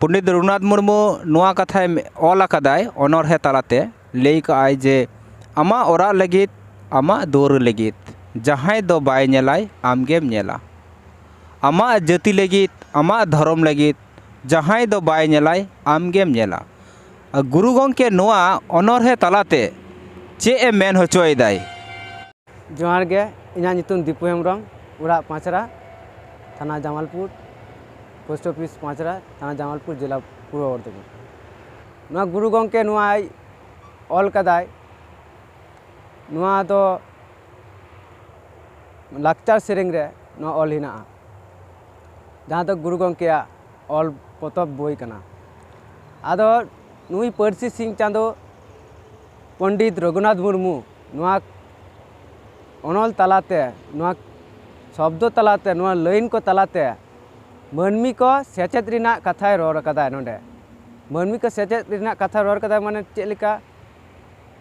ᱯᱚᱱᱰᱤᱛ ᱨᱚᱜᱷᱩᱱᱟᱛᱷ ᱢᱩᱨᱢᱩ ᱱᱚᱣᱟ ᱠᱟᱛᱷᱟᱭ ᱚᱞ ᱟᱠᱟᱫᱟᱭ ᱚᱱᱚᱬᱦᱮ ᱛᱟᱞᱟᱛᱮ ᱞᱟᱹᱭ ᱠᱟᱜ ᱟᱭ ᱡᱮ ᱟᱢᱟᱜ ᱚᱲᱟᱜ ᱞᱟᱹᱜᱤᱫ ᱟᱢᱟᱜ ᱫᱩᱣᱟᱹᱨ ᱞᱟᱹᱜᱤᱫ ᱡᱟᱦᱟᱸᱭ ᱫᱚ ᱵᱟᱭ ᱧᱮᱞᱟᱭ ᱟᱢ ᱜᱮᱢ ᱧᱮᱞᱟ ᱟᱢᱟᱜ ᱡᱟᱹᱛᱤ ᱞᱟᱹᱜᱤᱫ ᱟᱢᱟᱜ ᱫᱷᱚᱨᱚᱢ ᱞᱟᱹᱜᱤᱫ ᱡᱟᱦᱟᱸᱭ ᱫᱚ ᱵᱟᱭ ᱧᱮᱞᱟᱭ ᱟᱢ ᱜᱮᱢ ᱧᱮᱞᱟ ᱜᱩᱨᱩ ᱜᱚᱢᱠᱮ ᱱᱚᱣᱟ ᱚᱱᱚᱬᱦᱮ ᱛᱟᱞᱟᱛᱮ ᱪᱮᱫ ᱮ ᱢᱮᱱ ᱦᱚᱪᱚᱭᱮᱫᱟᱭ ᱡᱚᱦᱟᱨ ᱜᱮ ᱤᱧᱟᱹᱜ ᱧᱩᱛᱩᱢ ᱫᱤᱯᱩ ᱦᱮᱢᱵᱨᱚᱢ ᱚᱲᱟᱜ ᱯᱟᱸᱪᱨᱟ ᱛᱷᱟᱱᱟ ᱡᱟᱢᱟᱞᱯᱩᱨ ᱯᱳᱥᱴ ᱚᱯᱷᱤᱥ ᱯᱟᱸᱪᱨᱟ ᱛᱷᱟᱱᱟ ᱡᱟᱢᱟᱞᱯᱩᱨ ᱡᱮᱞᱟ ᱯᱩᱨᱵᱚ ᱵᱚᱨᱫᱷᱚᱢᱟᱱ ᱱᱚᱣᱟ ᱜᱩᱨᱩ ᱜᱚᱢᱠᱮ ᱱᱚᱣᱟᱭ ᱚᱞ ᱠᱟᱫᱟᱭ ᱱᱚᱣᱟ ᱫᱚ ᱞᱟᱠᱪᱟᱨ ᱥᱮᱨᱮᱧ ᱨᱮ ᱱᱚᱣᱟ ᱚᱞ ᱦᱮᱱᱟᱜᱼᱟ ᱡᱟᱦᱟᱸ ᱫᱚ ᱜᱩᱨᱩ ᱜᱚᱢᱠᱮᱭᱟᱜ ᱚᱞ ᱯᱚᱛᱚᱵ ᱵᱳᱭ ᱠᱟᱱᱟ ᱟᱫᱚ ᱱᱩᱭ ᱯᱟᱹᱨᱥᱤ ᱥᱤᱧ ᱪᱟᱸᱫᱚ ᱯᱚᱱᱰᱤᱛ ᱨᱚᱜᱷᱩᱱᱟᱛᱷ ᱢᱩᱨᱢᱩ ᱱᱚᱣᱟ ᱚᱱᱚᱞ ᱛᱟᱞᱟᱛᱮ ᱱᱚᱣᱟ ᱥᱚᱵᱫᱚ ᱛᱟᱞᱟᱛᱮ ᱱᱚᱣᱟ ᱞᱟᱹᱭᱤᱱ ᱠᱚ ᱛᱟᱞᱟᱛᱮ ᱢᱟᱹᱱᱢᱤ ᱠᱚ ᱥᱮᱪᱮᱫ ᱨᱮᱱᱟᱜ ᱠᱟᱛᱷᱟᱭ ᱨᱚᱲ ᱠᱟᱫᱟᱭ ᱱᱚᱰᱮ ᱢᱟᱹᱱᱢᱤ ᱠᱚ ᱥᱮᱪᱮᱫ ᱨᱮᱱᱟᱜ ᱠᱟᱛᱷᱟᱭ ᱨᱚᱲ ᱠᱟᱫᱟᱭ ᱢᱟᱱᱮ ᱪᱮᱫ ᱞᱮᱠᱟ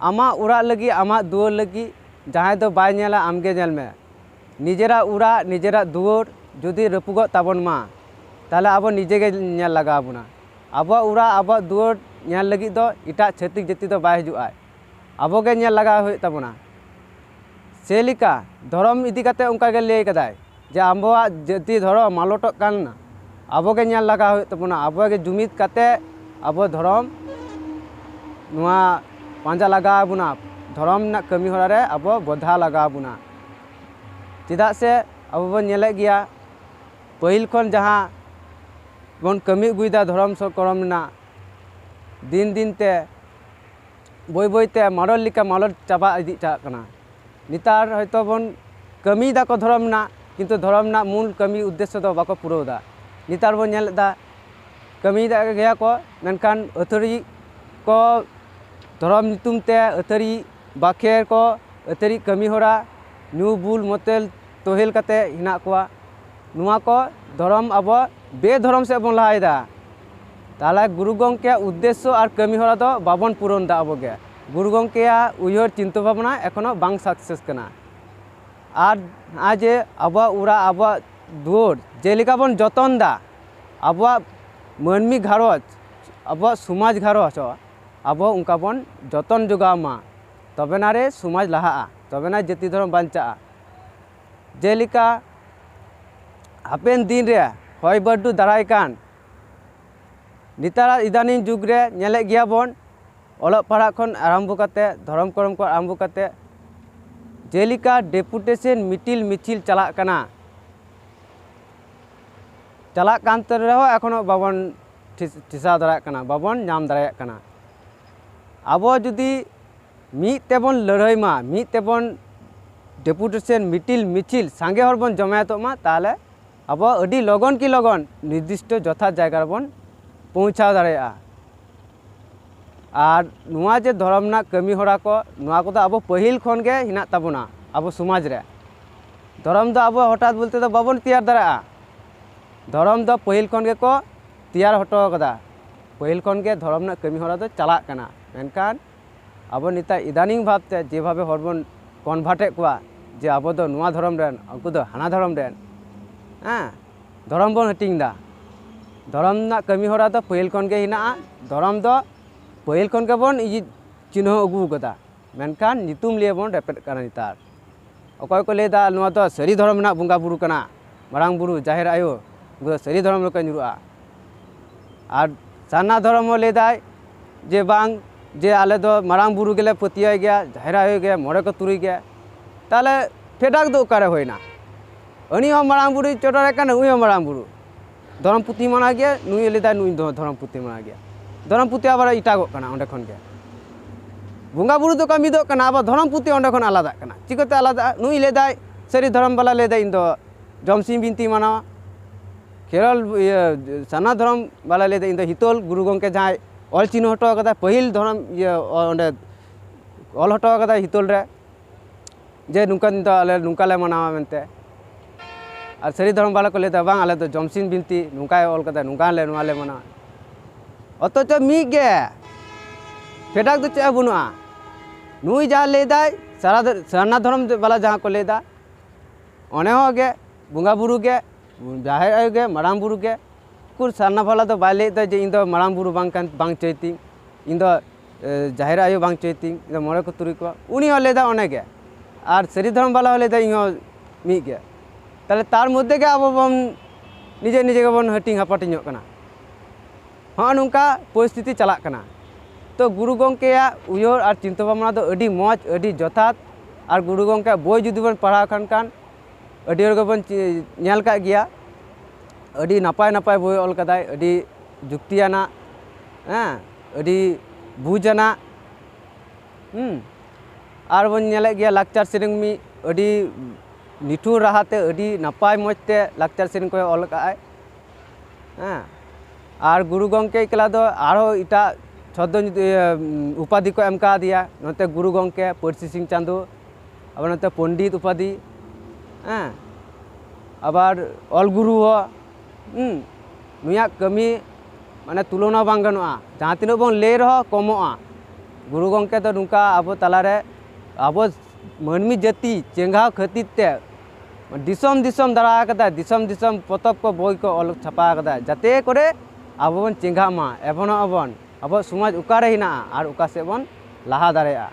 ᱟᱢᱟᱜ ᱚᱲᱟᱜ ᱞᱟᱹᱜᱤᱫ ᱟᱢᱟᱜ ᱫᱩᱣᱟᱹᱨ ᱞᱟᱹᱜᱤᱫ ᱡᱟᱦᱟᱸᱭ ᱫᱚ ᱵᱟᱭ ᱧᱮᱞᱟ ᱟᱢ ᱜᱮ ᱧᱮᱞ ᱢᱮ ᱱᱤᱡᱮᱨᱟᱜ ᱚᱲᱟᱜ ᱱᱤᱡᱮᱨᱟᱜ ᱫᱩᱣᱟᱹᱨ ᱡᱩᱫᱤ ᱨᱟᱹᱯᱩᱫᱚᱜ ᱛᱟᱵᱚᱱ ᱢᱟ ᱛᱟᱦᱚᱞᱮ ᱟᱵᱚ ᱱᱤᱡᱮ ᱜᱮ ᱧᱮᱞ ᱞᱟᱜᱟᱣ ᱵᱚᱱᱟ ᱟᱵᱚᱣᱟᱜ ᱚᱲᱟᱜ ᱟᱵᱚᱣᱟᱜ ᱫᱩᱣᱟᱹᱨ ᱧᱮᱞ ᱞᱟᱹᱜᱤᱫ ᱫᱚ ᱮᱴᱟᱜ ᱪᱷᱟᱹᱛᱤᱠ ᱡᱟᱹᱛᱤ ᱫᱚ ᱵᱟᱭ ᱦᱤᱡᱩᱜᱼᱟᱭ ᱟᱵᱚ ᱜᱮ ᱧᱮᱞ ᱞᱟᱜᱟᱣ ᱦᱩᱭᱩᱜ ᱛᱟᱵᱚᱱᱟ ᱥᱮ ᱞᱮᱠᱟ ᱫᱷᱚᱨᱚᱢ ᱤᱫᱤ ᱠᱟᱛᱮ ᱚᱱᱠᱟ ᱜᱮ ᱞᱟᱹᱭ ᱠᱟᱫᱟᱭ ᱡᱮ ᱟᱵᱚᱣᱟᱜ ᱡᱟᱹᱛᱤ ᱫᱷᱚᱨᱚᱢ ᱢᱟᱞᱚᱴᱚᱜ ᱠᱟᱱᱟ ᱟᱵᱚ ᱜᱮ ᱧᱮᱞ ᱞᱟᱜᱟᱣ ᱦᱩᱭᱩᱜ ᱛᱟᱵᱚᱱᱟ ᱟᱵᱚ ᱜᱮ ᱡᱩᱢᱤᱫ ᱠᱟᱛᱮ ᱟᱵᱚ ᱫᱷᱚᱨᱚᱢ ᱱᱚᱣᱟ ᱯᱟᱸᱡᱟ ᱞᱟᱜᱟᱣ ᱵᱚᱱᱟ ᱫᱷᱚᱨᱚᱢ ᱨᱮᱱᱟᱜ ᱠᱟᱹᱢᱤ ᱦᱚᱨᱟ ᱨᱮ ᱟᱵᱚ ᱵᱚᱫᱷᱟ ᱞᱟᱜᱟᱣ ᱵᱚᱱᱟ ᱪᱮᱫᱟᱜ ᱥᱮ ᱟᱵᱚ ᱵᱚᱱ ᱧᱮᱞᱮᱫ ᱜᱮᱭᱟ ᱯᱟᱹᱦᱤᱞ ᱠᱷᱚᱱ ᱡᱟᱦᱟᱸ ᱵᱚᱱ ᱠᱟᱹᱢᱤ ᱟᱹᱜᱩᱭᱮᱫᱟ ᱫᱷᱚᱨᱚᱢ ᱠᱚᱨᱚᱢ ᱨᱮᱱᱟᱜ ᱫᱤᱱ ᱫᱤᱱ ᱛᱮ ᱵᱟᱹᱭ ᱵᱟᱹᱭ ᱛᱮ ᱢᱟᱞᱚᱴ ᱞᱮᱠᱟ ᱢᱟᱞᱚᱴ ᱪᱟᱵᱟ ᱤᱫᱤ ᱪᱟᱞᱟᱜ ᱠᱟᱱᱟ ᱱᱮᱛᱟᱨ ᱦᱚᱭᱛᱳ ᱵᱚᱱ ᱠᱟᱹᱢᱤᱭ ᱫᱟᱠᱚ ᱫᱷᱚᱨᱚᱢ ᱨᱮᱱᱟᱜ ᱠᱤᱱᱛᱩ ᱫᱷᱚᱨᱚᱢ ᱨᱮᱱᱟᱜ ᱢᱩᱞ ᱠᱟᱹᱢᱤ ᱩᱫᱽᱫᱮᱥᱥᱚ ᱫᱚ ᱵᱟᱠᱚ ᱯᱩᱨᱟᱹᱣ ᱫᱟ ᱱᱮᱛᱟᱨ ᱵᱚᱱ ᱧᱮᱞᱮᱫ ᱫᱟ ᱠᱟᱹᱢᱤᱭᱮᱫ ᱜᱮᱭᱟ ᱠᱚ ᱢᱮᱱᱠᱷᱟᱱ ᱟᱹᱛᱷᱟᱹᱲᱤ ᱠᱚ ᱫᱷᱚᱨᱚᱢ ᱧᱩᱛᱩᱢ ᱛᱮ ᱟᱹᱛᱷᱟᱹᱲᱤ ᱵᱟᱠᱷᱮᱲ ᱠᱚ ᱟᱹᱛᱷᱟᱹᱲᱤ ᱠᱟᱹᱢᱤ ᱦᱚᱨᱟ ᱧᱩ ᱵᱩᱞ ᱢᱚᱛᱮᱞ ᱛᱳᱦᱮᱞ ᱠᱟᱛᱮᱫ ᱦᱮᱱᱟᱜ ᱠᱚᱣᱟ ᱱᱚᱣᱟ ᱠᱚ ᱫᱷᱚᱨᱚᱢ ᱟᱵᱚ ᱵᱮᱫᱷᱚᱨᱚᱢ ᱥᱮᱫ ᱵᱚᱱ ᱞᱟᱦᱟᱭᱮᱫᱟ ᱛᱟᱦᱚᱞᱮ ᱜᱩᱨᱩ ᱜᱚᱢᱠᱮᱭᱟᱜ ᱩᱫᱽᱫᱮᱥᱥᱚ ᱟᱨ ᱠᱟᱹᱢᱤ ᱦᱚᱨᱟ ᱫᱚ ᱵᱟᱵᱚᱱ ᱯᱩᱨᱚᱱ ᱮᱫᱟ ᱟᱵᱚ ᱜᱮ ᱜᱩᱨᱩ ᱜᱚᱢᱠᱮᱭᱟᱜ ᱩᱭᱦᱟᱹᱨ ᱪᱤᱱᱛᱟᱹ ᱵᱷᱟᱵᱽᱱᱟ ᱮᱠᱷᱚᱱᱳ ᱵᱟᱝ ᱥᱟᱠᱥᱮᱥ ᱠᱟᱱᱟ ᱟᱨ ᱱᱚᱜᱼᱚᱭ ᱡᱮ ᱟᱵᱚᱣᱟᱜ ᱚᱲᱟᱜ ᱟᱵᱚᱣᱟᱜ ᱫᱩᱣᱟᱹᱨ ᱡᱮᱞᱮᱠᱟ ᱵᱚᱱ ᱡᱚᱛᱚᱱ ᱮᱫᱟ ᱟᱵᱚᱣᱟᱜ ᱢᱟᱹᱱᱢᱤ ᱜᱷᱟᱨᱚᱸᱡᱽ ᱟᱵᱚᱣᱟᱜ ᱥᱚᱢᱟᱡᱽ ᱜᱷᱟᱨᱚᱸᱡᱽ ᱦᱚᱸ ᱟᱵᱚ ᱚᱱᱠᱟ ᱵᱚᱱ ᱡᱚᱛᱚᱱ ᱡᱚᱜᱟᱣ ᱢᱟ ᱛᱚᱵᱮᱱᱟ ᱨᱮ ᱥᱚᱢᱟᱡᱽ ᱞᱟᱦᱟᱜᱼᱟ ᱛᱚᱵᱮᱱᱟ ᱡᱟᱹᱛᱤ ᱫᱷᱚᱨᱚᱢ ᱵᱟᱧᱪᱟᱜᱼᱟ ᱡᱮᱞᱮᱠᱟ ᱦᱟᱯᱮᱱ ᱫᱤᱱ ᱨᱮ ᱦᱚᱭ ᱵᱟᱹᱨᱰᱩ ᱫᱟᱨᱟᱭ ᱠᱟᱱ ᱱᱮᱛᱟᱨᱟᱜ ᱤᱫᱟᱱᱤᱝ ᱡᱩᱜᱽ ᱨᱮ ᱧᱮᱞᱮᱫ ᱜᱮᱭᱟ ᱵᱚᱱ ᱚᱞᱚᱜ ᱯᱟᱲᱦᱟᱜ ᱠᱷᱚᱱ ᱟᱨᱟᱢᱵᱚ ᱠᱟᱛᱮᱫ ᱫᱷᱚᱨᱚᱢ ᱠᱚᱨᱚᱢ ᱠᱷᱚᱱ ᱟᱨᱟᱢᱵᱚ ᱠᱟᱛᱮᱫ ᱡᱮᱞᱮᱠᱟ ᱰᱮᱯᱩᱴᱮᱥᱮᱱ ᱢᱤᱴᱤᱞ ᱢᱤᱪᱷᱤᱞ ᱪᱟᱞᱟᱜ ᱠᱟᱱᱟ ᱪᱟᱞᱟᱜ ᱠᱟᱱ ᱨᱮᱦᱚᱸ ᱮᱠᱷᱚᱱᱳ ᱵᱟᱵᱚᱱ ᱴᱷᱮᱥᱟᱣ ᱫᱟᱲᱮᱭᱟᱜ ᱠᱟᱱᱟ ᱵᱟᱵᱚᱱ ᱧᱟᱢ ᱫᱟᱲᱮᱭᱟᱜ ᱠᱟᱱᱟ ᱟᱵᱚ ᱡᱩᱫᱤ ᱢᱤᱫ ᱛᱮᱵᱚᱱ ᱞᱟᱹᱲᱦᱟᱹᱭ ᱢᱟ ᱢᱤᱫ ᱛᱮᱵᱚᱱ ᱰᱮᱯᱩᱴᱮᱥᱚᱱ ᱢᱤᱴᱤᱞ ᱢᱤᱪᱷᱤᱞ ᱥᱟᱸᱜᱮ ᱦᱚᱲ ᱵᱚᱱ ᱡᱚᱢᱟᱭᱮᱛᱚᱜ ᱢᱟ ᱛᱟᱦᱚᱞᱮ ᱟᱵᱚ ᱟᱹᱰᱤ ᱞᱚᱜᱚᱱ ᱠᱤ ᱞᱚᱜᱚᱱ ᱱᱤᱨᱫᱤᱥᱴᱚ ᱡᱚᱛᱷᱟᱛ ᱡᱟᱭᱜᱟ ᱨᱮᱵᱚᱱ ᱯᱳᱣᱪᱷᱟᱣ ᱫᱟᱲᱮᱭᱟᱜᱼᱟ ᱟᱨ ᱱᱚᱣᱟ ᱡᱮ ᱫᱷᱚᱨᱚᱢ ᱨᱮᱱᱟᱜ ᱠᱟᱹᱢᱤ ᱦᱚᱨᱟ ᱠᱚ ᱱᱚᱣᱟ ᱠᱚᱫᱚ ᱟᱵᱚ ᱯᱟᱹᱦᱤᱞ ᱠᱷᱚᱱ ᱜᱮ ᱦᱮᱱᱟᱜ ᱛᱟᱵᱚᱱᱟ ᱟᱵᱚ ᱥᱚᱢᱟᱡᱽ ᱨᱮ ᱫᱷᱚᱨᱚᱢ ᱫᱚ ᱟᱵᱚ ᱦᱚᱴᱟᱛ ᱵᱚᱞᱛᱮ ᱫᱚ ᱵᱟᱵᱚᱱ ᱛᱮᱭᱟᱨ ᱫᱟᱲᱮᱭᱟᱜᱼᱟ ᱫᱷᱚᱨᱚᱢ ᱫᱚ ᱯᱟᱹᱦᱤᱞ ᱠᱷᱚᱱ ᱜᱮᱠᱚ ᱛᱮᱭᱟᱨ ᱦᱚᱴᱚ ᱟᱠᱟᱫᱟ ᱯᱟᱹᱦᱤᱞ ᱠᱷᱚᱱ ᱜᱮ ᱫᱷᱚᱨᱚᱢ ᱨᱮᱱᱟᱜ ᱠᱟᱹᱢᱤ ᱦᱚᱨᱟ ᱫᱚ ᱪᱟᱞᱟᱜ ᱠᱟᱱᱟ ᱢᱮᱱᱠᱷᱟᱱ ᱟᱵᱚ ᱱᱤᱛᱟᱜ ᱤᱫᱟᱱᱤᱝ ᱵᱷᱟᱵᱽ ᱛᱮ ᱡᱮ ᱵᱷᱟᱵᱮ ᱦᱚᱲ ᱵᱚᱱ ᱠᱚᱱᱵᱷᱟᱨᱴ ᱮᱫ ᱠᱚᱣᱟ ᱡᱮ ᱟᱵᱚ ᱫᱚ ᱱᱚᱣᱟ ᱫᱷᱚᱨᱚᱢ ᱨᱮᱱ ᱩᱱᱠᱩ ᱫᱚ ᱦᱟᱱᱟ ᱫᱷᱚᱨᱚᱢ ᱨᱮᱱ ᱦᱮᱸ ᱫᱷᱚᱨᱚᱢ ᱵᱚᱱ ᱦᱟᱹᱴᱤᱧ ᱮᱫᱟ ᱫᱷᱚᱨᱚᱢ ᱨᱮᱱᱟᱜ ᱠᱟᱹᱢᱤ ᱦᱚᱨᱟ ᱫᱚ ᱯᱟᱹᱦᱤᱞ ᱠᱷᱚᱱ ᱜᱮ ᱦᱮᱱᱟᱜᱼᱟ ᱫᱷᱚᱨᱚᱢ ᱫᱚ ᱯᱟᱹᱦᱤᱞ ᱠᱷᱚᱱ ᱜᱮᱵᱚᱱ ᱪᱤᱱᱦᱟᱹᱣ ᱟᱹᱜᱩ ᱟᱠᱟᱫᱟ ᱢᱮᱱᱠᱷᱟᱱ ᱧᱩᱛᱩᱢ ᱞᱤᱭᱮ ᱵᱚᱱ ᱨᱮᱯᱮᱫ ᱠᱟᱱᱟ ᱱᱮᱛᱟᱨ ᱚᱠᱚᱭ ᱠᱚ ᱞᱟᱹᱭ ᱫᱟ ᱱᱚᱣᱟ ᱫᱚ ᱥᱟᱹᱨᱤ ᱫᱷᱚᱨᱚᱢ ᱨᱮᱱᱟᱜ ᱵᱚᱸᱜᱟ ᱵᱩᱨᱩ ᱠᱟᱱᱟ ᱢᱟᱨᱟᱝ ᱵᱩᱨᱩ ᱡᱟᱦᱮᱨ ᱟᱭᱳ ᱩᱱᱠᱩ ᱫᱚ ᱥᱟᱹᱨᱤ ᱫᱷᱚᱨᱚᱢ ᱨᱮᱠᱚ ᱧᱩᱨᱩᱜᱼᱟ ᱟᱨ ᱥᱟᱨᱱᱟ ᱫᱷᱚᱨᱚᱢ ᱦᱚᱸ ᱞᱟᱹᱭ ᱫᱟᱭ ᱡᱮ ᱵᱟᱝ ᱡᱮ ᱟᱞᱮ ᱫᱚ ᱢᱟᱨᱟᱝ ᱵᱩᱨᱩ ᱜᱮᱞᱮ ᱯᱟᱹᱛᱭᱟᱹᱣ ᱜᱮᱭᱟ ᱡᱟᱦᱮᱨ ᱟᱭᱳ ᱜᱮ ᱢᱚᱬᱮ ᱠᱚ ᱛᱩᱨᱩᱭ ᱜᱮ ᱛᱟᱦᱚᱞᱮ ᱯᱷᱮᱰᱟᱛ ᱫᱚ ᱚᱠᱟᱨᱮ ᱦᱩᱭᱱᱟ ᱩᱱᱤ ᱦᱚᱸ ᱢᱟᱨᱟᱝ ᱵᱩᱨᱩᱭ ᱪᱚᱰᱚᱨᱮ ᱠᱟᱱᱟ ᱱᱩᱭ ᱦᱚᱸ ᱢᱟᱨᱟᱝ ᱵᱩᱨᱩ ᱫᱷᱚᱨᱚᱢ ᱯᱩᱛᱷᱤ ᱢᱟᱱᱟᱣ ᱜᱮᱭᱟ ᱱᱩᱭ ᱮ ᱞᱟᱹᱭᱫᱟ ᱱᱩᱭ ᱫᱚ ᱫᱷᱚᱨᱚᱢ ᱯᱩᱛᱷᱤ ᱢᱟᱱᱟᱣ ᱜᱮᱭᱟ ᱫᱷᱚᱨᱚᱢ ᱯᱩᱛᱷᱤ ᱟᱵᱟᱨ ᱮᱴᱟᱜᱚᱜ ᱠᱟᱱᱟ ᱚᱸᱰᱮ ᱠᱷᱚᱱ ᱜᱮ ᱵᱚᱸᱜᱟ ᱵᱳᱨᱳ ᱫᱚᱠᱚ ᱢᱤᱫᱚᱜ ᱠᱟᱱᱟ ᱟᱵᱟᱨ ᱫᱷᱚᱨᱚᱢ ᱯᱩᱛᱷᱤ ᱚᱸᱰᱮ ᱠᱷᱚᱱ ᱟᱞᱟᱫᱟᱜ ᱠᱟᱱᱟ ᱪᱤᱠᱟᱹᱛᱮ ᱟᱞᱟᱫᱟᱜᱼᱟ ᱱᱩᱭ ᱞᱟᱹᱭᱫᱟᱭ ᱥᱟᱹᱨᱤ ᱫᱷᱚᱨᱚᱢ ᱵᱟᱞᱟ ᱞᱟᱹᱭᱫᱟᱭ ᱤᱧ ᱫᱚ ᱡᱚᱢ ᱥᱤᱢ ᱵᱤᱱᱛᱤ ᱢᱟᱱᱟᱣᱟ ᱠᱷᱮᱨᱣᱟᱞ ᱤᱭᱟᱹ ᱥᱟᱨᱱᱟ ᱫᱷᱚᱨᱚᱢ ᱵᱟᱞᱟ ᱞᱟᱹᱭᱫᱟ ᱤᱧ ᱫᱚ ᱦᱤᱛᱚᱞ ᱜᱩᱨᱩ ᱜᱚᱢᱠᱮ ᱡᱟᱦᱟᱸᱭ ᱚᱞ ᱪᱤᱱᱦᱟᱹ ᱦᱚᱴᱚ ᱠᱟᱫᱟ ᱯᱟᱹᱦᱤᱞ ᱫᱷᱚᱨᱚᱢ ᱤᱭᱟᱹ ᱚᱸᱰᱮ ᱚᱞ ᱦᱚᱴᱚ ᱠᱟᱫᱟᱭ ᱦᱤᱛᱚᱞ ᱨᱮ ᱡᱮ ᱱᱚᱝᱠᱟ ᱫᱤᱱ ᱫᱚ ᱟᱞᱮ ᱱᱚᱝᱠᱟ ᱞᱮ ᱢᱟᱱᱟᱣᱟ ᱢᱮᱱᱛᱮ ᱟᱨ ᱥᱟᱹᱨᱤ ᱫᱷᱚᱨᱚᱢ ᱵᱟᱞᱟ ᱠᱚ ᱞᱟᱹᱭᱫᱟ ᱵᱟᱝ ᱟᱞᱮ ᱫᱚ ᱡᱚᱢᱥᱤᱱ ᱵᱤᱱᱛᱤ ᱱᱚᱝᱠᱟᱭ ᱚᱞ ᱠᱟᱫᱟ ᱱᱚᱝᱠᱟ ᱞᱮ ᱱᱚᱣᱟ ᱞᱮ ᱢᱟᱱᱟᱣᱟ ᱚᱛᱷᱚᱪᱚ ᱢᱤᱫ ᱜᱮ ᱯᱷᱮᱰᱟᱛ ᱫᱚ ᱪᱮᱫ ᱦᱚᱸ ᱵᱟᱹᱱᱩᱜᱼᱟ ᱱᱩᱭ ᱡᱟᱦᱟᱸ ᱞᱟᱹᱭᱫᱟᱭ ᱥᱟᱨᱟ ᱥᱟᱨᱱᱟ ᱫᱷᱚᱨᱚᱢ ᱵᱟᱞᱟ ᱡᱟᱦᱟᱸ ᱠᱚ ᱞᱟᱹᱭᱫᱟ ᱚᱱᱮ ᱦᱚᱸ ᱜᱮ ᱵᱚᱸᱜᱟ ᱵᱩᱨᱩ ᱜᱮ ᱡᱟᱦᱮᱨ ᱟᱭᱳ ᱜᱮ ᱢᱟᱨᱟᱝ ᱵᱩᱨᱩ ᱜᱮ ᱩᱠᱩᱨ ᱥᱟᱨᱱᱟ ᱵᱟᱞᱟ ᱫᱚ ᱵᱟᱭ ᱞᱟᱹᱭᱮᱫ ᱫᱚ ᱡᱮ ᱤᱧ ᱫᱚ ᱢᱟᱨᱟᱝ ᱵᱩᱨᱩ ᱵᱟᱝ ᱠᱟᱱ ᱵᱟᱝ ᱪᱟᱹᱭᱛᱤᱧ ᱤᱧ ᱫᱚ ᱡᱟᱦᱮᱨ ᱟᱭᱳ ᱵᱟᱝ ᱪᱚᱭ ᱛᱤᱧ ᱤᱧ ᱫᱚ ᱢᱚᱬᱮ ᱠᱚ ᱛᱩᱨᱩᱭ ᱠᱚᱣᱟ ᱩᱱᱤ ᱦᱚᱸ ᱞᱟᱹᱭᱫᱟ ᱚᱱᱮ ᱜᱮ ᱟᱨ ᱥᱟᱹᱨᱤ ᱫᱷᱚᱨᱚᱢ ᱵᱟᱞᱟ ᱦᱚᱸ ᱞᱟᱹᱭᱫᱟ ᱤᱧ ᱦᱚᱸ ᱢᱤᱫ ᱜᱮ ᱛᱟᱦᱚᱞᱮ ᱛᱟᱨ ᱢᱚᱫᱽᱫᱷᱮ ᱜᱮ ᱟᱵᱚ ᱵᱚᱱ ᱱᱤᱡᱮ ᱱᱤᱡᱮ ᱜᱮᱵᱚᱱ ᱦᱟᱹᱴᱤᱧ ᱦᱟᱯᱟᱴᱤᱧᱚᱜ ᱠᱟᱱᱟ ᱦᱚᱸᱜᱼᱚ ᱱᱚᱝᱠᱟ ᱯᱚᱨᱤᱥᱛᱷᱤᱛᱤ ᱪᱟᱞᱟᱜ ᱠᱟᱱᱟ ᱛᱚ ᱜᱩᱨᱩ ᱜᱚᱢᱠᱮᱭᱟᱜ ᱩᱭᱦᱟᱹᱨ ᱟᱨ ᱪᱤᱱᱛᱟᱹ ᱵᱷᱟᱵᱽᱱᱟ ᱫᱚ ᱟᱹᱰᱤ ᱢᱚᱡᱽ ᱟᱹᱰᱤ ᱡᱚᱛᱷᱟᱛ ᱟᱨ ᱜᱩᱨᱩ ᱜᱚᱢᱠᱮᱭᱟᱜ ᱵᱳᱭ ᱡᱩᱫᱤ ᱵᱚᱱ ᱯᱟᱲᱦᱟᱣ ᱠᱷᱟᱱ ᱠᱷᱟᱱ ᱟᱹᱰᱤ ᱦᱚᱲ ᱜᱮᱵᱚᱱ ᱪᱮ- ᱧᱮᱞ ᱠᱟᱜ ᱜᱮᱭᱟ ᱟᱹᱰᱤ ᱱᱟᱯᱟᱭ ᱱᱟᱯᱟᱭ ᱵᱳᱭ ᱚᱞ ᱠᱟᱫᱟᱭ ᱟᱹᱰᱤ ᱡᱩᱠᱛᱤᱭᱟᱱᱟᱜ ᱦᱮᱸ ᱟᱹᱰᱤ ᱵᱩᱡᱽ ᱟᱱᱟᱜ ᱟᱨ ᱵᱚᱱ ᱧᱮᱞᱮᱫ ᱜᱮᱭᱟ ᱞᱟᱠᱪᱟᱨ ᱥᱮᱨᱮᱧ ᱢᱤᱫ ᱟᱹᱰᱤ ᱱᱤᱴᱷᱩᱨ ᱨᱟᱦᱟ ᱛᱮ ᱟᱹᱰᱤ ᱱᱟᱯᱟᱭ ᱢᱚᱡᱽ ᱛᱮ ᱞᱟᱠᱪᱟᱨ ᱥᱮᱨᱮᱧ ᱠᱚᱭ ᱚᱞ ᱠᱟᱜ ᱟᱭ ᱦᱮᱸ ᱟᱨ ᱜᱩᱨᱩ ᱜᱚᱢᱠᱮ ᱮᱠᱞᱟ ᱫᱚ ᱟᱨᱚ ᱮᱴᱟᱜ ᱪᱷᱚᱫᱽᱫᱚ ᱩᱯᱟᱫᱷᱤ ᱠᱚ ᱮᱢ ᱠᱟᱣᱫᱮᱭᱟ ᱱᱚᱛᱮ ᱜᱩᱨᱩ ᱜᱚᱢᱠᱮ ᱯᱟᱹᱨᱥᱤ ᱥᱤᱧ ᱪᱟᱸᱫᱚ ᱟᱵᱟᱨ ᱱᱚᱛᱮ ᱯᱚᱱᱰᱤᱛ ᱩᱯᱟᱫᱷᱤ ᱦᱮᱸ ᱟᱵᱟᱨ ᱚᱞ ᱜᱩᱨᱩ ᱦᱚᱸ ᱦᱩᱸ ᱱᱩᱭᱟᱜ ᱠᱟᱹᱢᱤ ᱢᱟᱱᱮ ᱛᱩᱞᱚᱱᱟ ᱵᱟᱝ ᱜᱟᱱᱚᱜᱼᱟ ᱡᱟᱦᱟᱸ ᱛᱤᱱᱟᱹᱜ ᱵᱚᱱ ᱞᱟᱹᱭ ᱨᱮᱦᱚᱸ ᱠᱚᱢᱚᱜᱼᱟ ᱜᱩᱨᱩ ᱜᱚᱢᱠᱮ ᱫᱚ ᱱᱚᱝᱠᱟ ᱟᱵᱚ ᱛᱟᱞᱟᱨᱮ ᱟᱵᱚ ᱢᱟᱹᱱᱢᱤ ᱡᱟᱹᱛᱤ ᱪᱮᱸᱜᱷᱟᱣ ᱠᱷᱟᱹᱛᱤᱨ ᱛᱮ ᱫᱤᱥᱚᱢ ᱫᱤᱥᱚᱢ ᱫᱟᱬᱟ ᱟᱠᱟᱫᱟᱭ ᱫᱤᱥᱚᱢ ᱫᱤᱥᱚᱢ ᱯᱚᱛᱚᱵ ᱠᱚ ᱵᱳᱭ ᱠᱚ ᱚᱞ ᱪᱷᱟᱯᱟ ᱟᱠᱟᱫᱟᱭ ᱡᱟᱛᱮ ᱠᱚᱨᱮ ᱟᱵᱚ ᱵᱚᱱ ᱪᱮᱸᱜᱷᱟᱜ ᱢᱟ ᱮᱵᱷᱚᱱᱚᱜ ᱟᱵᱚᱱ ᱟᱵᱚᱣᱟᱜ ᱥᱚᱢᱟᱡᱽ ᱚᱠᱟᱨᱮ ᱦᱮᱱᱟᱜᱼᱟ ᱟᱨ ᱚᱠᱟ ᱥᱮᱫ ᱵᱚᱱ ᱞᱟᱦᱟ ᱫᱟᱲᱮᱭᱟᱜᱼᱟ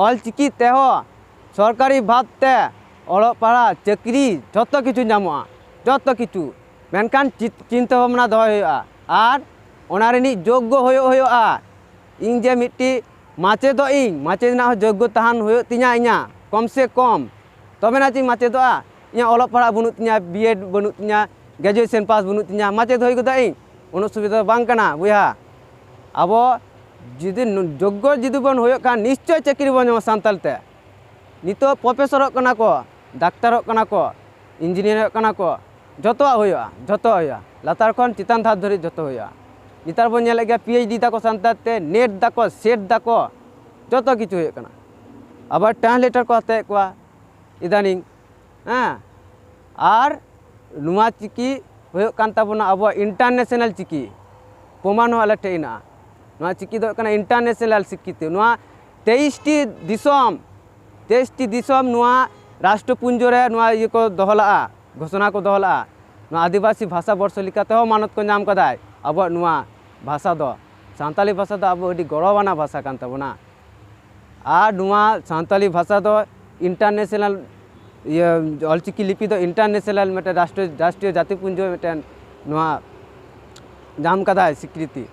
ᱚᱞ ᱪᱤᱠᱤ ᱛᱮᱦᱚᱸ ᱥᱚᱨᱠᱟᱨᱤ ᱵᱷᱟᱵᱽ ᱛᱮ ᱚᱞᱚᱜ ᱯᱟᱲᱦᱟᱜ ᱪᱟᱹᱠᱨᱤ ᱡᱷᱚᱛᱚ ᱠᱤᱪᱷᱩ ᱧᱟᱢᱚᱜᱼᱟ ᱡᱚᱛᱚ ᱠᱤᱪᱷᱩ ᱢᱮᱱᱠᱷᱟᱱ ᱪᱤᱱᱛᱟᱹ ᱵᱷᱟᱵᱽᱱᱟ ᱫᱚᱦᱚᱭ ᱦᱩᱭᱩᱜᱼᱟ ᱟᱨ ᱚᱱᱟ ᱨᱤᱱᱤᱡ ᱡᱳᱜᱽᱜᱚ ᱦᱩᱭᱩᱜ ᱦᱩᱭᱩᱜᱼᱟ ᱤᱧ ᱡᱮ ᱢᱤᱫᱴᱤᱡ ᱢᱟᱪᱮᱫᱚᱜ ᱤᱧ ᱢᱟᱪᱮᱫ ᱨᱮᱱᱟᱜ ᱦᱚᱸ ᱡᱳᱜᱽᱜᱚ ᱛᱟᱦᱮᱱ ᱦᱩᱭᱩᱜ ᱛᱤᱧᱟᱹ ᱤᱧᱟᱹᱜ ᱠᱚᱢ ᱥᱮ ᱠᱚᱢ ᱛᱚᱵᱮ ᱱᱟ ᱪᱮᱫ ᱤᱧ ᱢᱟᱪᱮᱫᱚᱜᱼᱟ ᱤᱧᱟᱹᱜ ᱚᱞᱚᱜ ᱯᱟᱲᱦᱟᱜ ᱵᱟᱹᱱᱩᱜ ᱛᱤᱧᱟᱹ ᱵᱤᱭᱮᱰ ᱵᱟᱹᱱᱩᱜ ᱛᱤᱧᱟᱹ ᱜᱨᱮᱡᱩᱭᱮᱥᱮᱱ ᱯᱟᱥ ᱵᱟᱹᱱᱩᱜ ᱛᱤᱧᱟᱹ ᱢᱟᱪᱮᱫ ᱦᱩᱭ ᱜᱚᱫᱚᱜ ᱤᱧ ᱩᱱᱟᱹᱜ ᱥᱩᱵᱤᱫᱷᱟ ᱫᱚ ᱵᱟᱝ ᱠᱟᱱᱟ ᱵᱚᱭᱦᱟ ᱟᱵᱚ ᱡᱩᱫᱤ ᱡᱳᱜᱽᱜᱚ ᱡᱩᱫᱤ ᱵᱚᱱ ᱦᱩᱭᱩᱜ ᱠᱷᱟᱱ ᱱᱤᱥᱪᱳᱭ ᱪᱟᱹᱠᱨᱤ ᱵᱚᱱ ᱧᱟᱢᱟ ᱥᱟᱱᱛᱟᱲᱤ ᱛᱮ ᱱᱤᱛᱚᱜ ᱯᱨᱚᱯᱷᱮᱥᱚᱨᱚᱜ ᱠᱟᱱᱟ ᱠᱚ ᱰᱟᱠᱛᱟᱨᱚᱜ ᱠᱟᱱᱟ ᱠᱚ ᱤᱧᱡᱤᱱᱤᱭᱟᱨ ᱦᱩᱭᱩᱜ ᱠᱟᱱᱟ ᱠᱚ ᱡᱚᱛᱚᱣᱟᱜ ᱦᱩᱭᱩᱜᱼᱟ ᱡᱚᱛᱚᱣᱟᱜ ᱦᱩᱭᱩᱜᱼᱟ ᱞᱟᱛᱟᱨ ᱠᱷᱚᱱ ᱪᱮᱛᱟᱱ ᱫᱷᱟᱯ ᱫᱷᱟᱹᱨᱤᱡ ᱡᱚᱛᱚ ᱦᱩᱭᱩᱜᱼᱟ ᱱᱮᱛᱟᱨ ᱵᱚᱱ ᱧᱮᱞᱮᱫ ᱜᱮᱭᱟ ᱯᱤ ᱮᱭᱤᱪ ᱰᱤ ᱫᱟᱠᱚ ᱥᱟᱱᱛᱟᱲ ᱛᱮ ᱱᱮᱴ ᱫᱟᱠᱚ ᱥᱮᱴ ᱫᱟᱠᱚ ᱡᱚᱛᱚ ᱠᱤᱪᱷᱩ ᱦᱩᱭᱩᱜ ᱠᱟᱱᱟ ᱟᱵᱟᱨ ᱴᱨᱟᱱᱥᱞᱮᱴᱟᱨ ᱠᱚ ᱦᱟᱛᱟᱣᱮᱫ ᱠᱚᱣᱟ ᱤᱫᱟᱱᱤᱝ ᱦᱮᱸ ᱟᱨ ᱱᱚᱣᱟ ᱪᱤᱠᱤ ᱦᱩᱭᱩᱜ ᱠᱟᱱ ᱛᱟᱵᱚᱱᱟ ᱟᱵᱚᱣᱟᱜ ᱤᱱᱴᱟᱨᱱᱮᱥᱱᱟᱞ ᱪᱤᱠᱤ ᱯᱨᱚᱢᱟᱱ ᱦᱚᱸ ᱟᱞᱮ ᱴᱷᱮᱡ ᱦᱮᱱᱟᱜᱼᱟ ᱱᱚᱣᱟ ᱪᱤᱠᱤ ᱫᱚ ᱦᱩᱭᱩᱜ ᱠᱟᱱᱟ ᱤᱱᱴᱟᱨᱱᱮᱥᱱᱟᱞ ᱥᱤᱠᱠᱷᱤᱛᱤ ᱱᱚᱣᱟ ᱛᱮᱭᱤᱥᱴᱤ ᱫᱤᱥᱚᱢ ᱛᱮᱭᱤᱥ ᱴᱤ ᱫᱤᱥᱚᱢ ᱱᱚᱣᱟ ᱨᱟᱥᱴᱨᱚ ᱯᱩᱧᱡᱚ ᱨᱮ ᱱᱚᱣᱟ ᱤᱭᱟᱹ ᱠᱚ ᱫᱚᱦᱚ ᱞᱟᱜᱼᱟ ᱜᱷᱚᱥᱚᱱᱟ ᱠᱚ ᱫᱚᱦᱚ ᱞᱟᱜᱼᱟ ᱱᱚᱣᱟ ᱟᱹᱫᱤᱵᱟᱹᱥᱤ ᱵᱷᱟᱥᱟ ᱵᱚᱨᱥᱚ ᱞᱮᱠᱟᱛᱮ ᱦᱚᱸ ᱢᱟᱱᱚᱛ ᱠᱚ ᱧᱟᱢ ᱠᱟᱫᱟ ᱟᱵᱚᱣᱟᱜ ᱱᱚᱣᱟ ᱵᱷᱟᱥᱟ ᱫᱚ ᱥᱟᱱᱛᱟᱲᱤ ᱵᱷᱟᱥᱟ ᱫᱚ ᱟᱵᱚ ᱟᱹᱰᱤ ᱜᱚᱨᱚᱵᱟᱱᱟᱜ ᱵᱷᱟᱥᱟ ᱠᱟᱱ ᱛᱟᱵᱚᱱᱟ ᱟᱨ ᱱᱚᱣᱟ ᱥᱟᱱᱛᱟᱲᱤ ᱵᱷᱟᱥᱟ ᱫᱚ ᱤᱱᱴᱟᱨᱱᱮᱥᱱᱟᱞ ᱤᱭᱟᱹ ᱚᱞ ᱪᱤᱠᱤ ᱞᱤᱯᱤ ᱫᱚ ᱤᱱᱴᱟᱨᱱᱮᱥᱱᱟᱞ ᱢᱤᱫᱴᱮᱱ ᱨᱟᱥᱴᱨᱚ ᱨᱟᱥᱴᱨᱤᱭᱚ ᱡᱟᱹᱛᱤ ᱯᱩᱧᱡᱚ ᱢᱤᱫᱴᱮᱱ ᱱᱚᱣᱟ ᱧᱟᱢ ᱠᱟᱫᱟᱭ ᱥᱤᱠᱨᱤᱛᱤ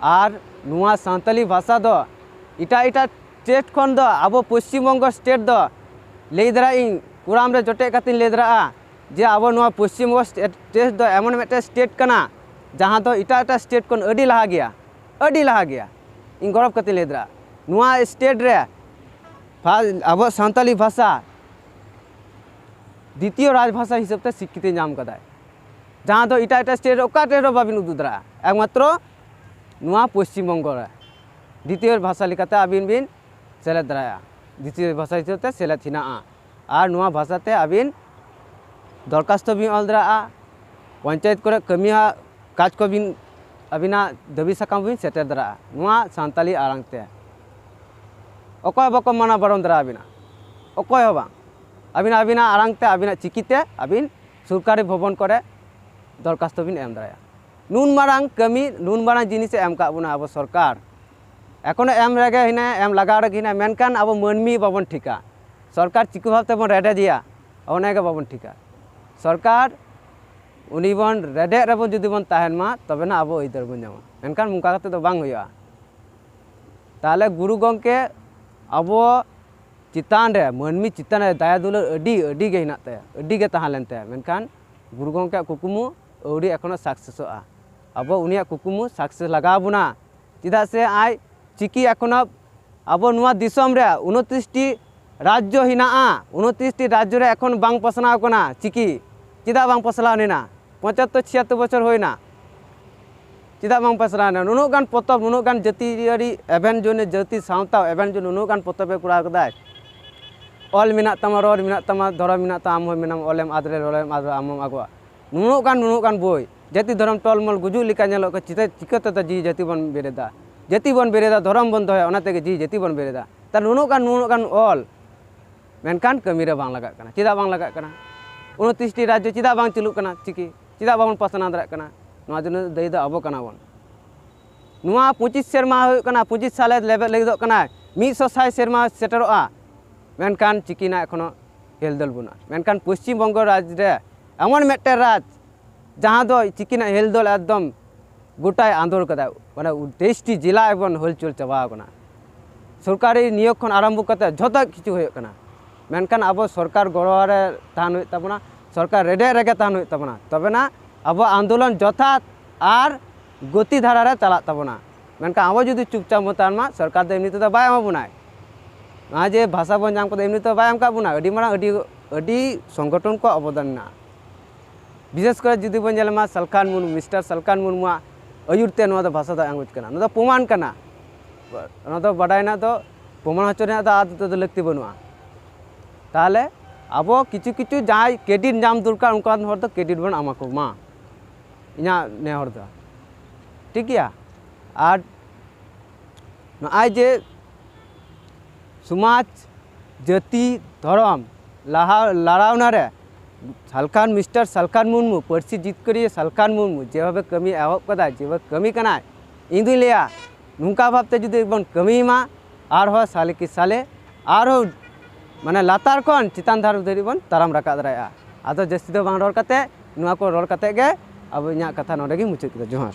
ᱟᱨ ᱱᱚᱣᱟ ᱥᱟᱱᱛᱟᱲᱤ ᱵᱷᱟᱥᱟ ᱫᱚ ᱮᱴᱟᱜ ᱮᱴᱟᱜ ᱥᱴᱮᱴ ᱠᱷᱚᱱ ᱫᱚ ᱟᱵᱚ ᱯᱚᱥᱪᱤᱢ ᱵᱚᱝᱜᱚ ᱥᱴᱮᱴ ᱫᱚ ᱞᱟᱹᱭ ᱫᱟᱲᱮᱭᱟᱜ ᱤᱧ ᱠᱚᱲᱟᱢ ᱨᱮ ᱡᱚᱴᱮᱫ ᱠᱟᱛᱮᱧ ᱞᱟᱹᱭ ᱫᱟᱲᱮᱭᱟᱜᱼᱟ ᱡᱮ ᱟᱵᱚ ᱱᱚᱣᱟ ᱯᱚᱥᱪᱤᱢ ᱵᱚᱝᱜᱚ ᱥᱴᱮᱴ ᱫᱚ ᱮᱢᱚᱱ ᱢᱤᱫᱴᱮᱱ ᱥᱴᱮᱴ ᱠᱟᱱᱟ ᱡᱟᱦᱟᱸ ᱫᱚ ᱮᱴᱟᱜ ᱮᱴᱟᱜ ᱥᱴᱮᱴ ᱠᱷᱚᱱ ᱟᱹᱰᱤ ᱞᱟᱦᱟ ᱜᱮᱭᱟ ᱟᱹᱰᱤ ᱞᱟᱦᱟ ᱜᱮᱭᱟ ᱤᱧ ᱜᱚᱨᱚᱵᱽ ᱠᱟᱛᱮᱧ ᱞᱟᱹᱭ ᱫᱟᱲᱮᱭᱟᱜᱼᱟ ᱱᱚᱣᱟ ᱥᱴᱮᱴ ᱨᱮ ᱟᱵᱚᱣᱟᱜ ᱥᱟᱱᱛᱟᱲᱤ ᱵᱷᱟᱥᱟ ᱫᱤᱛᱤᱭᱚ ᱨᱟᱡᱽ ᱵᱷᱟᱥᱟ ᱦᱤᱥᱟᱹᱵ ᱛᱮ ᱥᱤᱠᱨᱤᱛᱤ ᱧᱟᱢ ᱠᱟᱫᱟᱭ ᱡᱟᱦᱟᱸ ᱫᱚ ᱮᱴᱟᱜ ᱮᱴᱟᱜ ᱥᱴᱮᱴ ᱨᱮ ᱚᱠᱟ ᱴᱷᱮᱱ ᱦᱚᱸ ᱵᱟᱹᱵᱤᱱ ᱩᱫᱩᱜ ᱫᱟᱲᱮᱭᱟᱜᱼᱟ ᱮᱠᱢᱟᱛᱨᱚ ᱱᱚᱣᱟ ᱯᱚᱥᱪᱤᱢ ᱵᱚᱝᱜᱚ ᱨᱮ ᱫᱤᱛᱤᱭᱚ ᱵᱷᱟᱥᱟ ᱞᱮᱠᱟᱛᱮ ᱟᱹᱵᱤᱱ ᱵᱤᱱ ᱥᱮᱞᱮᱫ ᱫᱟᱲᱮᱭᱟᱜᱼᱟ ᱫᱤᱛᱤᱭᱚ ᱵᱷᱟᱥᱟ ᱦᱤᱥᱟᱹᱵ ᱛᱮ ᱥᱮᱞᱮᱫ ᱦᱮᱱᱟᱜᱼᱟ ᱟᱨ ᱱᱚᱣᱟ ᱵᱷᱟᱥᱟ ᱛᱮ ᱟᱹᱵᱤᱱ ᱫᱚᱨᱠᱟᱥᱛᱚ ᱵᱤᱱ ᱚᱞ ᱫᱟᱲᱮᱭᱟᱜᱼᱟ ᱯᱚᱧᱪᱟᱭᱮᱛ ᱠᱚᱨᱮ ᱠᱟᱹᱢᱤ ᱦᱚᱸ ᱠᱟᱡᱽ ᱠᱚᱵᱤᱱ ᱟᱹᱵᱤᱱᱟᱜ ᱫᱟᱹᱵᱤ ᱥᱟᱠᱟᱢ ᱵᱤᱱ ᱥᱮᱴᱮᱨ ᱫᱟᱲᱮᱭᱟᱜᱼᱟ ᱱᱚᱣᱟ ᱥᱟᱱᱛᱟᱲᱤ ᱟᱲᱟᱝ ᱛᱮ ᱚᱠᱚᱭ ᱦᱚᱸ ᱵᱟᱠᱚ ᱢᱟᱱᱟ ᱵᱟᱨᱚᱱ ᱫᱟᱲᱮ ᱟᱹᱵᱤᱱᱟ ᱚᱠᱚᱭ ᱦᱚᱸ ᱵᱟᱝ ᱟᱹᱵᱤᱱ ᱟᱹᱵᱤᱱᱟᱜ ᱟᱲᱟᱝ ᱛᱮ ᱟᱹᱵᱤᱱᱟᱜ ᱪᱤᱠᱤ ᱛᱮ ᱟᱹᱵᱤᱱ ᱥᱚᱨᱠᱟᱨᱤ ᱵᱷᱚᱵᱚᱱ ᱠᱚᱨᱮ ᱫᱚᱨᱠᱟᱥᱛᱚ ᱵᱤᱱ ᱮᱢ ᱫᱟᱲᱮᱭᱟᱜᱼᱟ ᱱᱩᱱ ᱢᱟᱨᱟᱝ ᱠᱟᱹᱢᱤ ᱱᱩᱱ ᱢᱟᱨᱟᱝ ᱡᱤᱱᱤᱥ ᱮ ᱮᱢ ᱠᱟᱜ ᱵᱚᱱᱟ ᱟᱵᱚ ᱥᱚᱨᱠᱟᱨ ᱮᱠᱷᱚᱱᱚ ᱮᱢ ᱨᱮᱜᱮ ᱦᱮᱱᱟᱭᱟ ᱮᱢ ᱞᱟᱜᱟᱣ ᱨᱮᱜᱮ ᱦᱮᱱᱟᱭᱟ ᱢᱮᱱᱠᱷᱟᱱ ᱟᱵᱚ ᱢᱟᱹᱱᱢᱤ ᱵᱟᱵᱚᱱ ᱴᱷᱤᱠᱟ ᱥᱚᱨᱠᱟᱨ ᱪᱤᱠᱟᱹ ᱵᱷᱟᱵ ᱛᱮᱵᱚᱱ ᱨᱮᱰᱮᱡᱮᱭᱟ ᱚᱱᱟᱜᱮ ᱵᱟᱵᱚᱱ ᱴᱷᱤᱠᱟ ᱥᱚᱨᱠᱟᱨ ᱩᱱᱤ ᱵᱚᱱ ᱨᱮᱰᱮᱫ ᱨᱮᱵᱚᱱ ᱡᱩᱫᱤ ᱵᱚᱱ ᱛᱟᱦᱮᱱ ᱢᱟ ᱛᱚᱵᱮᱱᱟ ᱟᱵᱚ ᱟᱹᱭᱫᱟᱹᱨ ᱵᱚᱱ ᱧᱟᱢᱟ ᱢᱮᱱᱠᱷᱟᱱ ᱚᱱᱠᱟ ᱠᱟᱛᱮ ᱫᱚ ᱵᱟᱝ ᱦᱩᱭᱩᱜᱼᱟ ᱛᱟᱦᱚᱞᱮ ᱜᱩᱨᱩ ᱜᱚᱢᱠᱮ ᱟᱵᱚ ᱪᱮᱛᱟᱱ ᱨᱮ ᱢᱟᱹᱱᱢᱤ ᱪᱮᱛᱟᱱ ᱨᱮ ᱫᱟᱭᱟ ᱫᱩᱞᱟᱹᱲ ᱟᱹᱰᱤ ᱟᱹᱰᱤ ᱜᱮ ᱦᱮᱱᱟᱜ ᱛᱟᱭᱟ ᱟᱹᱰᱤ ᱜᱮ ᱛᱟᱦᱮᱸ ᱞᱮᱱ ᱛᱟᱭᱟ ᱢᱮᱱᱠᱷᱟᱱ ᱜᱩᱨᱩ ᱜᱚᱢᱠᱮᱭᱟᱜ ᱠᱩᱠᱢᱩ ᱟᱹᱣᱨᱤ ᱮᱠᱷᱚᱱᱚ ᱥᱟᱠᱥᱮᱥᱚᱜᱼᱟ ᱟᱵᱚ ᱩᱱᱤᱭᱟᱜ ᱠᱩᱠᱢᱩ ᱥᱟᱠᱥᱮᱥ ᱞᱟᱜᱟᱣ ᱵᱚᱱᱟ ᱪᱮᱫᱟᱜ ᱥᱮ ᱟᱡ ᱪᱤᱠᱤ ᱮᱠᱷᱚᱱᱚ ᱟᱵᱚ ᱱᱚᱣᱟ ᱫᱤᱥᱚᱢ ᱨᱮ ᱩᱱᱚᱛᱨᱤᱥᱴᱤ ᱨᱟᱡᱽᱡᱚ ᱦᱮᱱᱟᱜᱼᱟ ᱩᱱᱚᱛᱨᱤᱥᱴᱤ ᱨᱟᱡᱽᱡᱚ ᱨᱮ ᱮᱠᱷᱚᱱ ᱵᱟᱝ ᱯᱟᱥᱱᱟᱣ ᱠᱟᱱᱟ ᱪᱤᱠᱤ ᱪᱮᱫᱟᱜ ᱵᱟᱝ ᱯᱟᱥᱱᱟᱣ ᱞᱮᱱᱟ ᱯᱚᱸᱪᱟᱛᱛᱳᱨ ᱪᱷᱤᱭᱟᱛᱛᱳᱨ ᱵᱚᱪᱷᱚᱨ ᱦᱩᱭᱱᱟ ᱪᱮᱫᱟᱜ ᱵᱟᱝ ᱯᱟᱥᱱᱟᱣ ᱞᱮᱱᱟ ᱱᱩᱱᱟᱹᱜ ᱜᱟᱱ ᱯᱚᱛᱚᱵ ᱱᱩᱱᱟᱹᱜ ᱜᱟᱱ ᱡᱟᱹᱛᱤᱭᱟᱹᱨᱤ ᱮᱵᱷᱮᱱ ᱡᱚᱱᱮ ᱡᱟᱹᱛᱤ ᱥᱟᱶᱛᱟ ᱮᱵᱷᱮᱱ ᱡᱚᱱᱮ ᱱᱩᱱᱟᱹᱜ ᱜᱟᱱ ᱯᱚᱛᱚᱵᱮ ᱠᱚᱨᱟᱣ ᱠᱟᱫᱟᱭ ᱚᱞ ᱢᱮᱱᱟᱜ ᱛᱟᱢᱟ ᱨᱚᱲ ᱢᱮᱱᱟᱜ ᱛᱟᱢᱟ ᱫᱷᱚᱨᱚᱢ ᱢᱮᱱᱟᱜ ᱛᱟᱢᱟ ᱟᱢ ᱦᱚᱸ ᱢᱮᱱᱟᱢ ᱚᱞᱮᱢ ᱟᱫ ᱞᱮᱨᱮ ᱨᱚᱲᱮᱢ ᱟᱫ ᱞᱮᱨᱮ ᱟᱢ ᱦᱚᱸᱢ ᱟᱫᱚᱜᱼᱟ ᱱᱩᱱᱟᱹᱜ ᱜᱟᱱ ᱱᱩᱱᱟᱹᱜ ᱜᱟᱱ ᱵᱳᱭ ᱡᱟᱹᱛᱤ ᱫᱷᱚᱨᱚᱢ ᱴᱚᱞᱢᱚᱞ ᱜᱩᱡᱩᱜ ᱞᱮᱠᱟ ᱧᱮᱞᱚᱜ ᱠᱟᱱᱟ ᱪᱤᱛᱟᱹ ᱪᱤᱠᱟᱹ ᱛᱮᱫᱚ ᱡᱤᱣᱤ ᱡᱟᱹᱛᱤ ᱵᱚᱱ ᱵᱮᱨᱮᱫᱟ ᱡᱟᱹᱛᱤ ᱵᱚᱱ ᱵᱮᱨᱮᱫᱟ ᱫᱷᱚᱨᱚᱢ ᱵᱚᱱ ᱫᱚᱦᱚᱭᱟ ᱚᱱᱟ ᱛᱮᱜᱮ ᱡᱤᱣᱤ ᱡᱟᱹᱛᱤ ᱵᱚᱱ ᱵᱮᱨᱮᱫᱟ ᱛᱟᱦᱚᱞᱮ ᱱᱩᱱᱟᱹᱜ ᱜᱟᱱ ᱱᱩᱱᱟᱹᱜ ᱜᱟᱱ ᱚᱞ ᱢᱮᱱᱠᱷᱟᱱ ᱠᱟᱹᱢᱤ ᱨᱮ ᱵᱟᱝ ᱞᱟᱜᱟᱜ ᱠᱟᱱᱟ ᱪᱮᱫᱟᱜ ᱵᱟᱝ ᱞᱟᱜᱟᱜ ᱠᱟᱱᱟ ᱩᱱᱛᱨᱤᱥᱴᱤ ᱨᱟᱡᱽᱡᱚ ᱪᱮᱫᱟᱜ ᱵᱟᱝ ᱪᱟᱹᱞᱩᱜ ᱠᱟᱱᱟ ᱪᱤᱠᱤ ᱪᱮᱫᱟᱜ ᱵᱟᱵᱚᱱ ᱯᱟᱥᱱᱟᱣ ᱫᱟᱲᱮᱭᱟᱜ ᱠᱟᱱᱟ ᱱᱚᱣᱟ ᱫᱚ ᱫᱟᱹᱭ ᱫᱚ ᱟᱵᱚ ᱠᱟᱱᱟ ᱵᱚᱱ ᱱᱚᱣᱟ ᱯᱚᱸᱪᱤᱥ ᱥᱮᱨᱢᱟ ᱦᱩᱭᱩᱜ ᱠᱟᱱᱟ ᱯᱚᱸᱪᱤᱥ ᱥᱟᱞᱮ ᱞᱮᱵᱮᱫ ᱞᱟᱹᱜᱤᱫᱚᱜ ᱠᱟᱱᱟ ᱢᱤᱫ ᱥᱚ ᱥᱟᱭ ᱥᱮᱨᱢᱟ ᱥᱮᱴᱮᱨᱚᱜᱼᱟ ᱢᱮᱱᱠᱷᱟᱱ ᱪᱤᱠᱤ ᱨᱮᱱᱟᱜ ᱮᱠᱷᱚᱱᱳ ᱦᱮᱞᱫᱳᱞ ᱵᱟᱹᱱᱩᱜᱼᱟ ᱢᱮᱱᱠᱷᱟᱱ ᱯᱚᱥᱪᱤᱢ ᱵᱚᱝᱜᱚ ᱨᱟᱡᱽ ᱨᱮ ᱮᱢᱚᱱ ᱢᱤᱫᱴᱮᱱ ᱨᱟᱡᱽ ᱡᱟᱦᱟᱸ ᱫᱚ ᱛᱤᱠᱤᱱᱟᱜ ᱦᱮᱞ ᱫᱚᱞ ᱮᱠᱫᱚᱢ ᱜᱚᱴᱟᱭ ᱟᱸᱫᱳᱲ ᱠᱟᱫᱟ ᱢᱟᱱᱮ ᱛᱮᱭᱤᱥᱴᱤ ᱡᱮᱞᱟ ᱮᱠᱫᱚᱢ ᱦᱚᱞᱪᱚᱞ ᱪᱟᱵᱟ ᱟᱠᱟᱱᱟ ᱥᱚᱨᱠᱟᱨᱤ ᱱᱤᱭᱳᱜᱽ ᱠᱷᱚᱱ ᱟᱨᱟᱢᱵᱷᱚ ᱠᱟᱛᱮ ᱡᱷᱚᱛᱚ ᱠᱤᱪᱷᱩ ᱦᱩᱭᱩᱜ ᱠᱟᱱᱟ ᱢᱮᱱᱠᱷᱟᱱ ᱟᱵᱚ ᱥᱚᱨᱠᱟᱨ ᱜᱚᱲᱚ ᱨᱮ ᱛᱟᱦᱮᱱ ᱦᱩᱭᱩᱜ ᱛᱟᱵᱚᱱᱟ ᱥᱚᱨᱠᱟᱨ ᱨᱮᱰᱮᱫ ᱨᱮᱜᱮ ᱛᱟᱦᱮᱱ ᱦᱩᱭᱩᱜ ᱛᱟᱵᱚᱱᱟ ᱛᱚᱵᱮᱱᱟ ᱟᱵᱚᱣᱟᱜ ᱟᱱᱫᱳᱞᱚᱱ ᱡᱚᱛᱷᱟᱛ ᱟᱨ ᱜᱚᱛᱤ ᱫᱷᱟᱨᱟ ᱨᱮ ᱪᱟᱞᱟᱜ ᱛᱟᱵᱚᱱᱟ ᱢᱮᱱᱠᱷᱟᱱ ᱟᱵᱚ ᱡᱩᱫᱤ ᱪᱩᱯᱪᱟᱯ ᱵᱚᱱ ᱛᱟᱦᱮᱱ ᱢᱟ ᱥᱚᱨᱠᱟᱨ ᱫᱚ ᱮᱢᱱᱤ ᱛᱮᱫᱚ ᱵᱟᱭ ᱮᱢᱟ ᱵᱚᱱᱟᱭ ᱱᱚᱣᱟ ᱡᱮ ᱵᱷᱟᱥᱟ ᱵᱚᱱ ᱧᱟᱢ ᱠᱟᱫᱟ ᱮᱢᱱᱤ ᱛᱮᱫᱚ ᱵᱟᱭ ᱮᱢ ᱠᱟᱫ ᱵᱚᱱᱟ ᱟᱹᱰᱤ ᱢᱟᱨᱟᱝ ᱟᱹᱰᱤ ᱟᱹᱰᱤ ᱥᱚᱝᱜᱚᱴᱷᱚᱱ ᱠᱚᱣᱟᱜ ᱚᱵᱚᱫᱟᱱ ᱢᱮᱱᱟᱜᱼᱟ ᱵᱤᱥᱮᱥ ᱠᱚᱨᱮ ᱡᱩᱫᱤ ᱵᱚᱱ ᱧᱮᱞ ᱢᱟ ᱥᱟᱞᱠᱷᱟᱱ ᱢᱩᱨᱢᱩ ᱢᱤᱥᱴᱟᱨ ᱥᱟᱞᱠᱷᱟᱱ ᱢᱩᱨᱢᱩᱣᱟᱜ ᱟᱹᱭᱩᱨ ᱛᱮ ᱱᱚᱣᱟ ᱫᱚ ᱵᱷᱟᱥᱟ ᱫᱚ ᱟᱸᱜᱚᱪ ᱠᱟᱱᱟ ᱱᱚᱣᱟ ᱫᱚ ᱯᱨᱚᱢᱟᱱ ᱠᱟᱱᱟ ᱚᱱᱟ ᱫᱚ ᱵᱟᱰᱟᱭ ᱨᱮᱱᱟᱜ ᱫᱚ ᱯᱨᱚᱢᱟᱱ ᱦᱚᱪᱚ ᱨᱮᱱᱟᱜ ᱫᱚ ᱟᱨ ᱫᱚ ᱞᱟᱹᱠᱛᱤ ᱵᱟᱹᱱᱩᱜᱼᱟ ᱛᱟᱦᱚᱞᱮ ᱟᱵᱚ ᱠᱤᱪᱷᱩ ᱠᱤᱪᱷᱩ ᱡᱟᱦᱟᱸᱭ ᱠᱨᱮᱰᱤᱴ ᱧᱟᱢ ᱫᱚᱨᱠᱟᱨ ᱚᱱᱠᱟᱱ ᱦᱚᱲ ᱫᱚ ᱠᱨᱮᱰᱤᱴ ᱵᱚᱱ ᱮᱢᱟ ᱠᱚᱢᱟ ᱤᱧᱟᱹᱜ ᱱᱮᱦᱚᱨ ᱫᱚ ᱴᱷᱤᱠ ᱜᱮᱭᱟ ᱟᱨ ᱱᱚᱜᱼᱚᱭ ᱡᱮ ᱥᱚᱢᱟᱡᱽ ᱡᱟᱹᱛᱤ ᱫᱷᱚᱨᱚᱢ ᱞᱟᱦᱟ ᱞᱟᱲᱟᱣᱱᱟ ᱨᱮ ᱥᱟᱞᱠᱷᱟᱱ ᱢᱤᱥᱴᱟᱨ ᱥᱟᱞᱠᱷᱟᱱ ᱢᱩᱨᱢᱩ ᱯᱟᱹᱨᱥᱤ ᱡᱤᱛᱠᱟᱹᱨᱤᱭᱟᱹ ᱥᱟᱞᱠᱷᱟᱱ ᱢᱩᱨᱢᱩ ᱡᱮᱵᱷᱟᱵᱮ ᱠᱟᱹᱢᱤ ᱮᱦᱚᱵ ᱠᱟᱫᱟᱭ ᱡᱮᱵᱷᱟᱵᱮ ᱠᱟᱹᱢᱤ ᱠᱟᱱᱟᱭ ᱤᱧ ᱫᱩᱧ ᱞᱟᱹᱭᱟ ᱱᱚᱝᱠᱟ ᱵᱷᱟᱵᱛᱮ ᱡᱩᱫᱤ ᱵᱚᱱ ᱠᱟᱹᱢᱤᱭ ᱢᱟ ᱟᱨᱦᱚᱸ ᱥᱟᱞᱮ ᱠᱤ ᱥᱟᱞᱮ ᱟᱨᱦᱚᱸ ᱢᱟᱱᱮ ᱞᱟᱛᱟᱨ ᱠᱷᱚᱱ ᱪᱮᱛᱟᱱ ᱫᱷᱟᱨᱮ ᱫᱷᱟᱹᱨᱤᱡ ᱵᱚᱱ ᱛᱟᱲᱟᱢ ᱨᱟᱠᱟᱵ ᱫᱟᱲᱮᱭᱟᱜᱼᱟ ᱟᱫᱚ ᱡᱟᱹᱥᱛᱤ ᱫᱚ ᱵᱟᱝ ᱨᱚᱲ ᱠᱟᱛᱮᱫ ᱱᱚᱣᱟ ᱠᱚ ᱨᱚᱲ ᱠᱟᱛᱮᱫ ᱜᱮ ᱟᱵᱚ ᱤᱧᱟᱹᱜ ᱠᱟᱛᱷᱟ ᱱᱚᱰᱮ ᱜᱮᱧ ᱢᱩᱪᱟᱹᱫ ᱠᱮᱫᱟ ᱡᱚᱦᱟᱨ